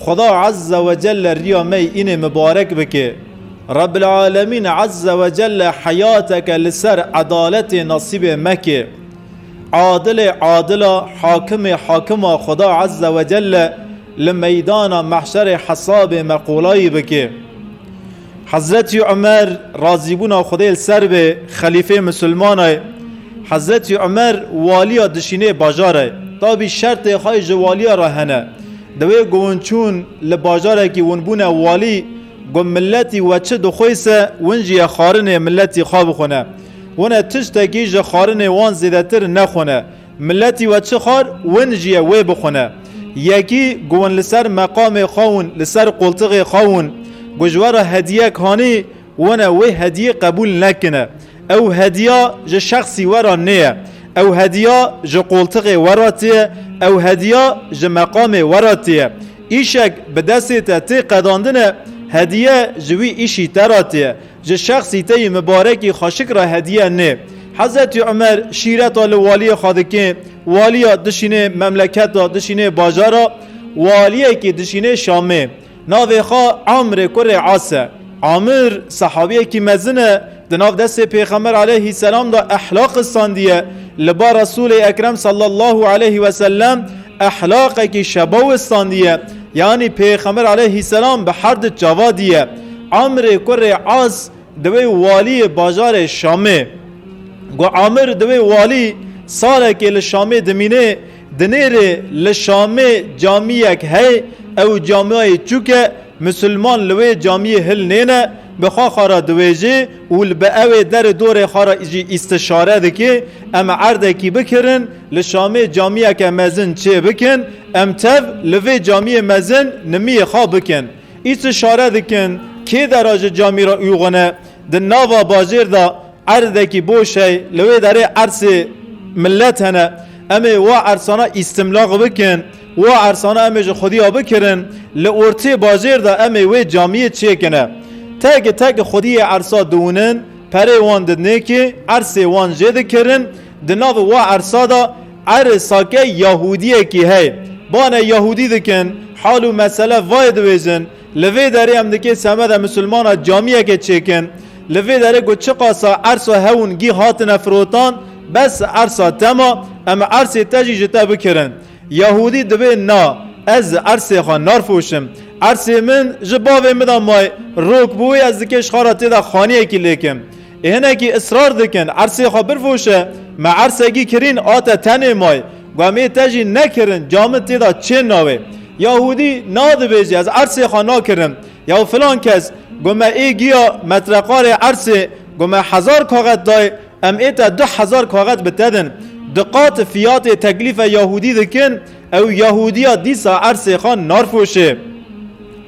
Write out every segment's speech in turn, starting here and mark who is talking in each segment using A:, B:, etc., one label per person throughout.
A: Xweda Azze ve Celle riya me yê înê mibarek bike. Rebbil Alemîn Azze ve Celle heyateke li ser edaletê nasîbê me ke. Adilê adila, hakimê hakima Xweda Azze ve Celle li meydana mehşerê hesabê me qolayî bike. Hezretî Umer razîbûna Xwedê li ser be xelîfeyê misilmana ye. Hezretî Umer waliya dişînê bajar e. Tabî şertê xwe ji waliya re hene. Di wê ku hûn çûn li bajarekî hûn bûne walî, got miletî we çi dixwêse hûn jî ye xwarinê miletî xwe bixwine. Hûn e tiştekî ji xwarinê wan zêdetir nexwine. Miletî we çi xwar, win jî ye wê bixwine. Yekî ku win li ser meqamê xwe ûn li ser qultiqê xwe ûn ku ji we re hediyek hanî, win e wê hediyê qebûl nekine. Ew hediya ji şexsî we re nêye. Ew hediya ji qultiqê we re tê ye, ew hediya ji meqamê we re tê ye. Îşek bi destê te tê qedandine, hediye ji wî îşî te re tê ye. Ji şexsî te yî mibarekî xweşik re hediye nê. Hezretî Umer şîreta li waliyê xwe dike, waliya dişînê memleketa, dişînê bajara, waliyekî dişînê Şamê. Navê xwe Amrê kurê As e. Amir sehabiyekî mezin e, di nav destê Pêxember aleyhî selam de ehlaq xistandiye. Li ba Resûlê Ekrem sallallahu aleyhî we sellem ehlaqekî şebaw xistandiye. Yanî Pêxember aleyhî selam bi her di çava diye. Amirê kurê As diwê waliyê bajarê Şamê. Ku Amir diwê walî sarekê li Şamê dimînê, di nêrê li Şamê camiyek hey, ew camiyayê çûk e, misilman li wê camiyê hil nêne, bi xwe xwe re diwêjê û li bi ewê derê dorê xwe re jî îstişare dike, em erdekî bikirin, li Şamê camiyeke mezin çêbikin, em tev li vê camiyê mezin nimiyê xwe bikin. Îşi şare dikin, kê dera ji camî re uxune, di nava bajêr de erdekî boş hey, li wê derê ersê milet hene, em ê wa ersana îstimlaq bikin, wa ersana em ê ji xwedîya bikirin, li ortê bajêr de em ê wê camîyê çêkine. Teke teke xwedîyê ersa diwinin, perê wan didnê kê, ersê wan jê dikirin, di nav wa ersa de, Erê sake Yahûdiyekî heye. Bane Yahûdî dikin, hal û mesele vayê diwêjin. Li vê derê em dikê semede misilmana camiyekê çêkin. Li vê derê ku çiqasa ersa hewûn gîh hatine firotan, bes ersa te ma, em ersê te jî ji te bikirin. Yahûdî dibê na, ez ersê xwe narfoşim. Ersê min ji bavê min de maye, rok bi wê ez dikê şixara tê de xaniyekî lêkim. Hinekî israr dikin ersê xwe birvoşe, me ersegî kirîn a te tenê may, gomê te jî nekirin ca min tê da çê nawê. Yahûdî nadibêjî ez ersê xwe nakirim. Yaw filan kes, gome ê giya metreqarê ersê gome hezar kaxet dayê, em ê te du hezar kaxet bi te din. Du qat fiyatê teklîfe Yahûdî dikin, ew Yahûdiya dîsa ersê xwe narfoşê.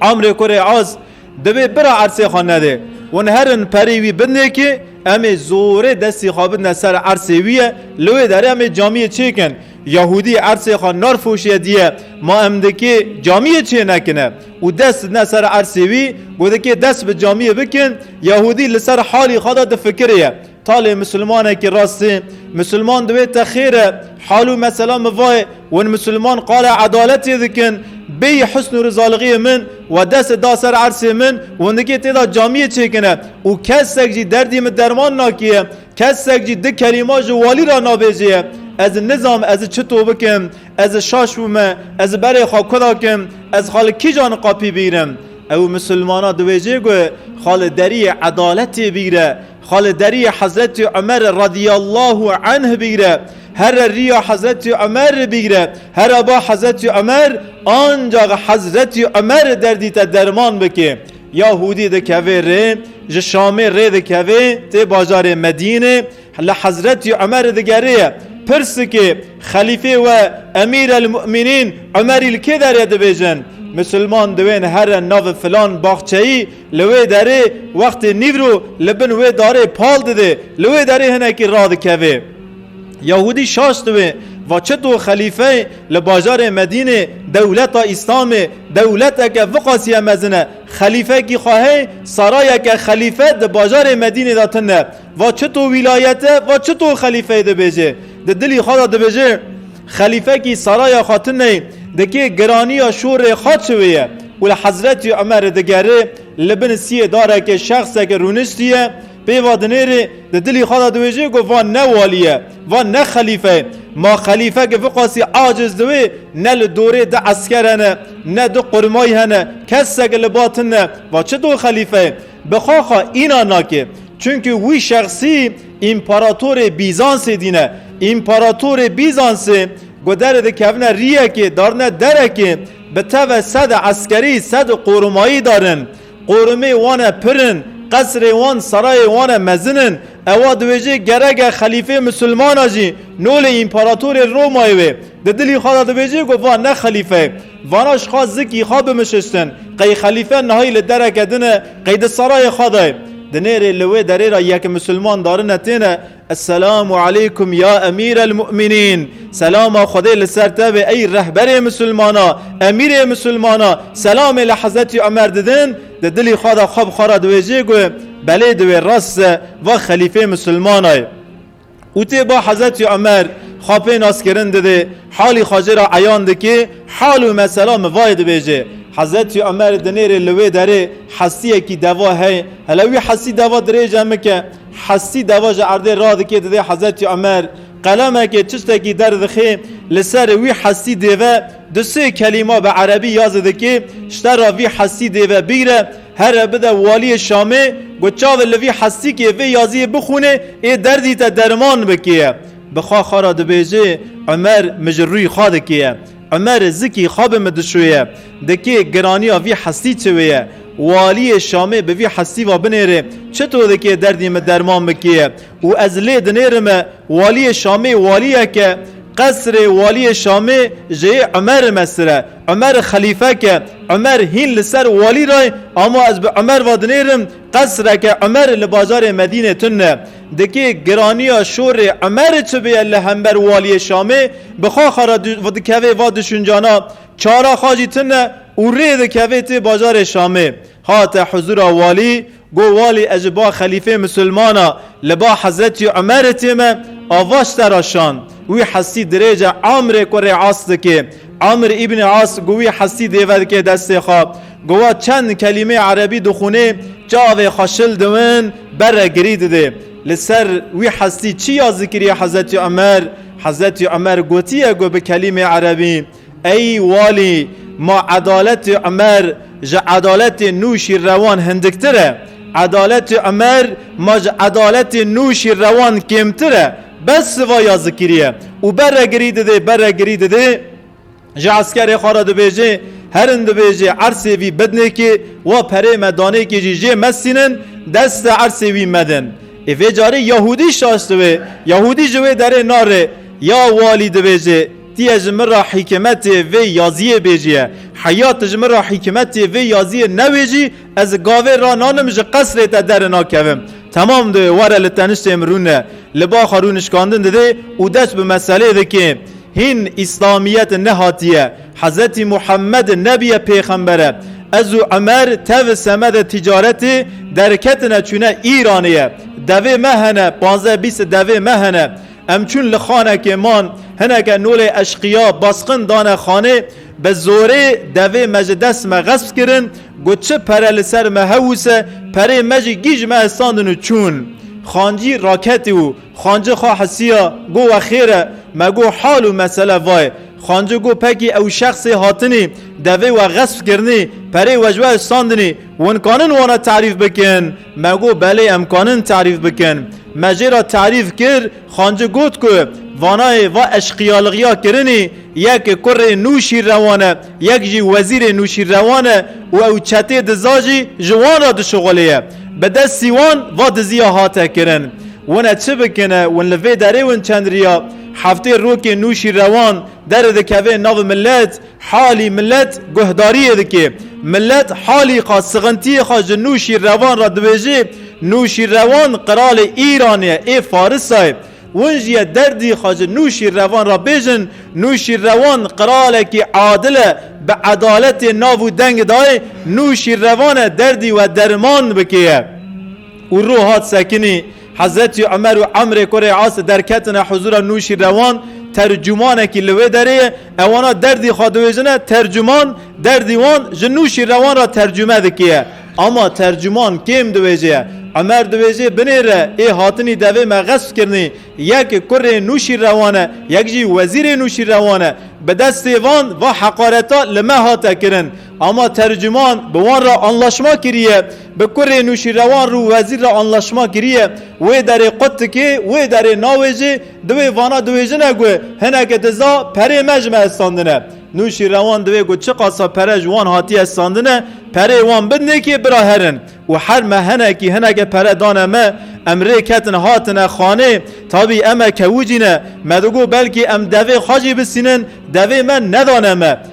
A: Amrê kurê az. Divê bira ersê xwe nede. Hûn herin perê wî binêkê, em ê zorê destê xwe bidne ser ersê wî ye, li wê derê em ê camiyê çêkin. Yahûdî ersê xwe narfoşiye diye, ma em dikê camiyê çênekine û dest didne ser ersê wî. Ku dikê dest bi camiyê bikin, Yahûdî li ser halî xwe de difikirê ye. Talê Musulmanekî rastî, Musulman di wê te xêr e. Hal û mesela min va ye, win Musulman qala edaletê dikin, bêyî husn û rizalixiyê min we destê da ser ersê min, windikê tê da camiyê çêkine û kesek jî derdî min derman nakiye, kesek jî di kelîma ji walî ra nabêjeye, ez nizam ez çito bikim, ez şaş bûme, ez berê xwe ku dakim, ez xwe li kîjan niqapî bîrim? Ew Musulmana di wê jê gue xwe li deriyê edaletê bîre. Xwe li deriyê Hezretî Umerê radîyallahu anh bigire, here rîya Hezretî Umerê bigire, here ba Hezretî Umer ancax Hezretî Umerê derdî te derman bike. Ya Hûdî dikeve rê, ji Şamê rê dikeve tê bajarê Medînê, li Hezretî Umerê digere ye, pirsike, Xelîfê we Emîrelmûmînîn Umerî li kê derê dibêjin? Misilman diwên here navê filan baxçeyî Li wê derê wextê nîvro li bin wê darê pal dide, li wê derê hinekî radikeve. Yahûdî şaş dibe, va çito xelîfeyê li bajarê Medînê dewleta Îslamê dewleteke viqasîye mezin e. Xelîfekî xwe hey, sarayeke xelîfe di bajarê Medînê de tune. Va çito wîlayete, va çito xelîfeyê dibêje. Di dilî xwe de dibêje. Xelîfekî Saraya Xatineyî dikê giraniya şorê xwe çi wê ye û li Hezretî Omerê digerê, li bin siyê darekê şexseke rûniştiye, pêva dinêrê, di dilî xwe de diwêjê ku van ne walî ye, van ne xelîfe ye. Ma xelîfeke vê qasî aciz di wê, ne li dorê du esker hene, ne du qurmay hene, keseke li ba tune, va çi do xelîfe ye? Bi xaxa înan nake. Çunke wî şexsî împaratorê Bîzansê dîne. Împaratorê Bîzansê ku derê dikevine rîyekê darine derekê bi teve sede eskerî sede qorimayî darin. Qorimê wan e pir in, qesrê wan serayê wan e mezin in. Ewa diwêjê gerege xelîfê misilmana jî nolê împaratorê Romayê wê. Di dilî xwe de dibêjê ku va ne xelîfe. Vana ji xwe zikî xwe bimişiştin. Qey xelîfe nihayî li dereke din e, qey di serayê xwe de ye. Di nêrê li wê derê re yek misilman darine têne, Esselamu aleykum ya emîr el mu'minîn, Selama Xwedê li ser te be ey rehberê misilmana, emîrê misilmana, selamê li Hezretî Omer didin, di dilî xwe de xwe bi xwe re diwêjê ku, Belê divê rast se, va xelîfê misilmana ye. Û tê ba Hezretî Omer xwe pê naskirin dide, halî xwe jê re eyan dike, hal û mesela min vayê dibêje. Hezretî Omer dinêrê li wê derê hestiyekî deva hey, hele wî hestî deva dirêje mike. Hestî deva ji erdê radike dide Hezretî Omer. Qelemekê çiştekî derdixe, li serê wî hestî dêve du sê kelîma bi erebî ya zidike, ji te re vî hestî dêve bigre, Here bide waliyê Şamê got çavê li vî hestîkê vê yaziyê bixwînê ê derdî te derman bikê. Bi xwe xwe re dibêjê Umer mi ji rûyê xwe dikê. Umer zikî xwe bi min dişoye. Dikê giraniya vî hestî çi wê ye. Waliyê Şamê bi vî hestî va binêrê çito dikê derdî min derman bikê û ez lê dinêrime waliyê Şamê waliyeke qesrê waliyê Şamê ji yê Umer mesire. Umer xelîfe ke Umer hîn li ser walî re ye, ama ez bi Umer ve dinêrim, qesreke Umer li bajarê Medînê tun e. Dikê giraniya şorê Umer çi bûye li hember waliyê Şamê, bi xwe xwe re dikevê va duşuncana, çara xwe jî tun e û rê dikevê tê bajarê Şamê. Hate huzûra walî, Got walî ez ji ba xelîfê misilman a li ba hezretî Umerê tê me, ava ji te re şand. Wî hestî dirêje Amrê kurê As dikê. Amr îbnê As got wî hestî dêve dikê destê xwe. Got wa çend kelîmeyê erebî dixwînê, çavê xwe şil diwin ber re girî didê. Li ser wî hestî çi ya zikirî hezretî Umer? Hezretî Umer gotiye got bi kelîmeyê erebî. Ey walî, ma edaletê Umer ji edaletê Nûşîrrewan hindiktir e, edaletê Umer ma ji edaletê Nûşîrrewan kêmtir e, bes siva ya zikirî ye û beregirî didê, beregirî didê, ji eskerê xwe re dibêje, herin dibêje ersê vî bidnêkê, wa perê me danêkê jî jê mesînin, deste ersê wî medin. Ê vê carî Yahûdî şaşt wê, Yahûdî ji wê derê narê, ya walî dibêje, Ti ye ji min re hîkimetê vê yaziyê bêjiye. Heya ti ji min re hîkimetê vê yaziyê newêjî, ez li gavê rananim ji qesrê te dere nakevim. Temam dibe were li teniştê min rûne. Li ba xwe rûnişkandin didê û dest bi meselê dikê. Hîn îslamiyet nehatiye. Hezretî Muhemmed nebiye pêxember e. Ez û Umer tevî semedê tîcaretê derketine çûne Îranê ye. Devê me hene, panzdeh bîst devê me hene. Em çûn li xanekê man. Hineke nolê eşqiya basqin dane xanê. Bi zorê devê me ji dest me xesp kirin. Got çi pere li ser me hewise, perê me jî gîj me estandin û çûn. Xancî raketî û Xanci xwe hisiya, got wexêr e. Me got hal û mesele va ye. Xanci got pekî ew şexsê hatinî devê we xesp kirinî, perê we ji we estandinî, winkanin wana terîf bikin? Me got belê em kanin tarîf bikin. Me jê re tarîf kir, Xanci got ku vanayê va eşqiyalixiya kirinî yek kurê Nûşîrrewan e, yek jî wezîrê Nûşîrrewan e û ew çetê diza jî ji wan re dişuxulêye. Bi destî wan va diziya hate kirin. Wine çi bikin e, win li vê derê win çendriya. Heftê rokê Nûşîrrewan derê dikeve nav milet. Halî milet guhdariyê dike. Milet halî xwe, sixintiyê xwe ji Nûşîrrevan re dibêje. Nûşîrrevan qiralê Îranê ye, ê Farisa ye. Win jî ye derdî xwe ji Nûşîrrevan re bêjin. Nûşîrrevan qiralekî adil e, bi edaletê nav û deng dayê. Nûşîrrevan e derdî we deriman bike ye. Û rû hat sekinî. Hezretî Umer û Amrê kurê Asî derketine huzûra Nûşîrewan, tercûmanekî li wê derê ye, ewana derdî xwe diwêjine, tercûman derdî wan ji Nûşîrewan re tercûme dikiye. Ama tercûman kêm diwêje ye. Umer diwêjê binê re ê hatinî devê me xesp kirinî, yek kurê Nûşîrewan e, yek jî wezîrê Nûşîrewan e. Bi destê van, va heqareta li me hate kirin. Ama tercûman bi wan re anlaşma kiriye. Bi kurê Nûşîrewan rû wezîr re anlaşma kiriye. Wê derê qut dikê, wê derê nawêjê, di wê vana diwêjine ku hineke diza perê me ji me estandine. Nûşîrewan divê ku çiqasa pere ji wan hatiye estandine, perê wan bin nêkê bira herin û her me hinekî hineke pere dane me, em rê ketin hatine xanê. Tabî em e kewûcî ne, me digot belkî em devê xwe jî bisînin, devê me nedane me.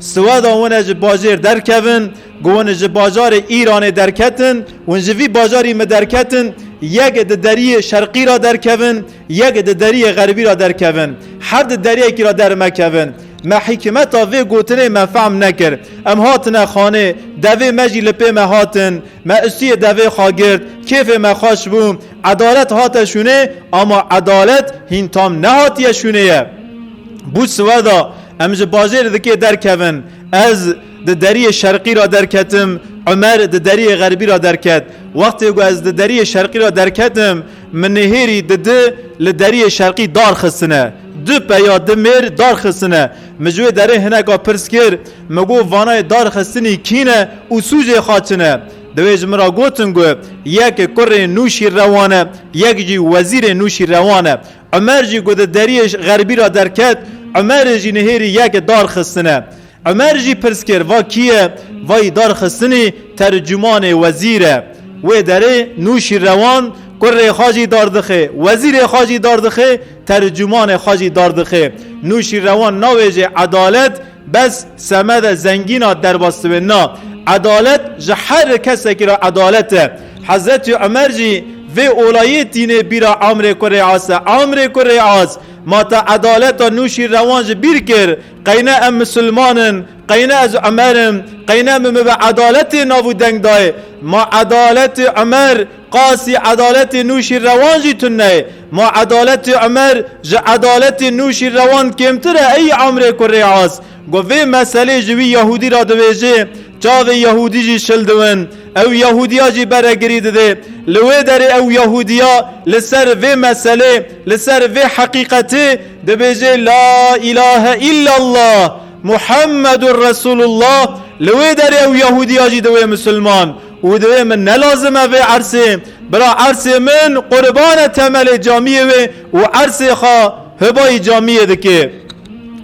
A: Siweda hûn ji bajêr derkevin, ku hûn ji bajarê Îranê derketin, hûn ji vî bajarî me derketin, yek di deriyê şerqî ra derkevin, yek di deriyê xerbî ra derkevin. Her di deriyekî ra dermekevin. Me hîkmeta vê gotinê me fehm nekir. Em hatine xanê, devê me jî li pê me hatin. Me ustiyê devê xwe girt, kêfê me xweş bû. Edalet hate şûnê, ama edalet hîn tam nehatiye şûnê ye. Bû siweda. Em ji bajêr dikê derkevin. Ez di deriyê şerqî ra derketim, Umer di deriyê xerbî ra derket. Wextê ku ez di deriyê şerqî ra derketim, min nêhêrî di di li deriyê şerqî dar xistine. Du peya du mêr dar xistine. Min ji wê derê hineka pirs kir, min got vanayê dar xistinî kî ne û sûcê xwe çi ne? Di wê ji min ra gotin ku yek kurê Nûşîrrewan e, yek jî wezîrê Nûşîrrewan e. Umer jî ku di deriyê xerbî re derket, Umerê jî nihêrî yek darxistine. Umer jî pirs kir, va kî ye? Vayî darxistinî tercumanê wezîr e. Wê derê Nûşîrewan kurê xwe jî dardixê, wezîrê xwe jî dardixê, tercumanê xwe jî dardixê. Nûşîrewan navê jê Edalet Bes semede zengîna derbasdibê na. Edalet ji her kesekî re edalet e. Hezretî Umer jî vê olayê tînê bîra Amrê ku rêas e, Amrê ku rêas, ma te edaleta Nûşîrrewan ji bîr kir, qey ne em misilman in, qey ne ez Umer im, qey ne min bibe edaletê nav û deng dayê, ma edaletê Umer, Qasî edaletê Nûşîrrewan jî tuneyê. Ma edaletê Umer ji edaletê Nûşîrrewan kêmtir e eyî emrê ku rê as. Got vê meselê ji wî Yehûdî re dibêjê, çavê Yehûdî jî şil diwin. Ew Yehûdiya jî beregirî didê. Li wê derê ew Yehûdiya li ser vê meselê, li ser vê heqîqetê dibêjê La îlahe îllallah Muhammedûr Resûlullah, li wê derê ew Yehûdiya jî diwê Musulman. Û divê min nelazime vê ersê. Bira ersê min qurban e temelê camiyê wê û ersê xwe hibayî camiyê dike.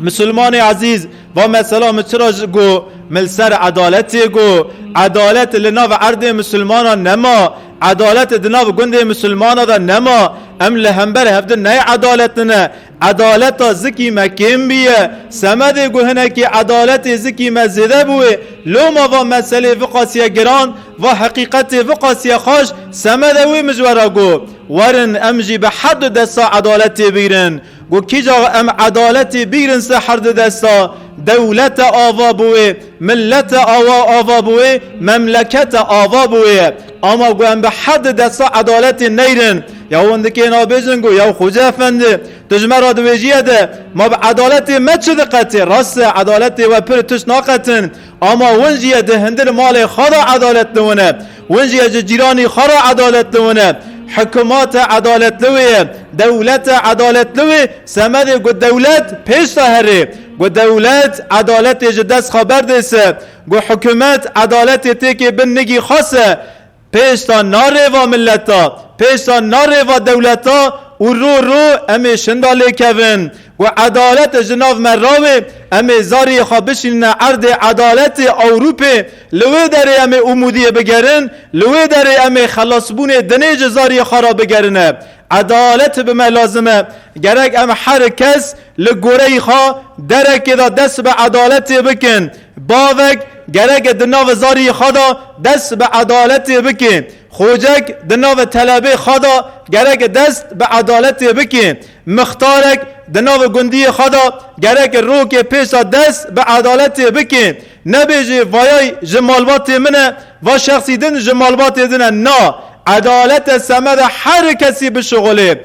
A: Misilmanê ezîz, va mesela min çira ji got min li ser edaletê got. Edalet li nav erdê misilmanan nema. Edalet di nav gundê misilmana de nema. Em li hember hevdin nayê edaletine. Edaleta zikî me kêm bûye. Semedê ku hinekî edaletê zikî me zêde bûye, loma va meselê viqasiye giran, va heqîqetê viqasiye xweş, Semede wê mijwera got, Werin em jî bi her du desta edaletê bigrin. Ku kîja em edaletê bigrin ser her du desta, dewlete ava bûye, milete awa ava bûye, memlekete ava bûye. Ama ku em bi hev di destva edaletê neyrin. Ya wendikê nabêj in ku ya Xoca Efendi, tu ji me re dibêjîye de ma bi edaletê me çi diqetin? Rast e edaletê we pir tişt naqetin. Ama win jî ye di hindî li malê xwe de edalet li win e. Win jî ye ji cîranî xwe re edalet li win e. Hikûmate edalet li wê ye. Dewlete edalet li wê semedê ku dewlet pêş de herê. Ku dewlet edaletê ji dest xwe berdê se. Ku hikumet edaletê têkê bin nigî xas e, pêşta na rêva mileta, pêşta na rêva dewleta û rû rû em ê şinda lê kevin. Ku edalet ji nav me rawê, em ê zariyê xwe bişînine erdê edaletê Ewrûpê, li wê derê em ê umûdiyê bigerin, li wê derê em ê xelasbûnê dinê ji zariyê xwe re bigerine. Edalet bi me lazim e. Gerek em her kes li goreyî xwe derekê de dest bi edaletê bikin. Bavek gerek di navê zarî xwe de dest bi edaletê bike. Xocek di navê telebê xwe de gerek dest bi edaletê bike. Mixtarek di navê gundiyê xwe de gerek roke pêşa dest bi edaletê bike. Nebêje vayay ji malbatê min e, va şexsî din ji malbatê din e. Na, edalet e semeda her kesî bişuxulê.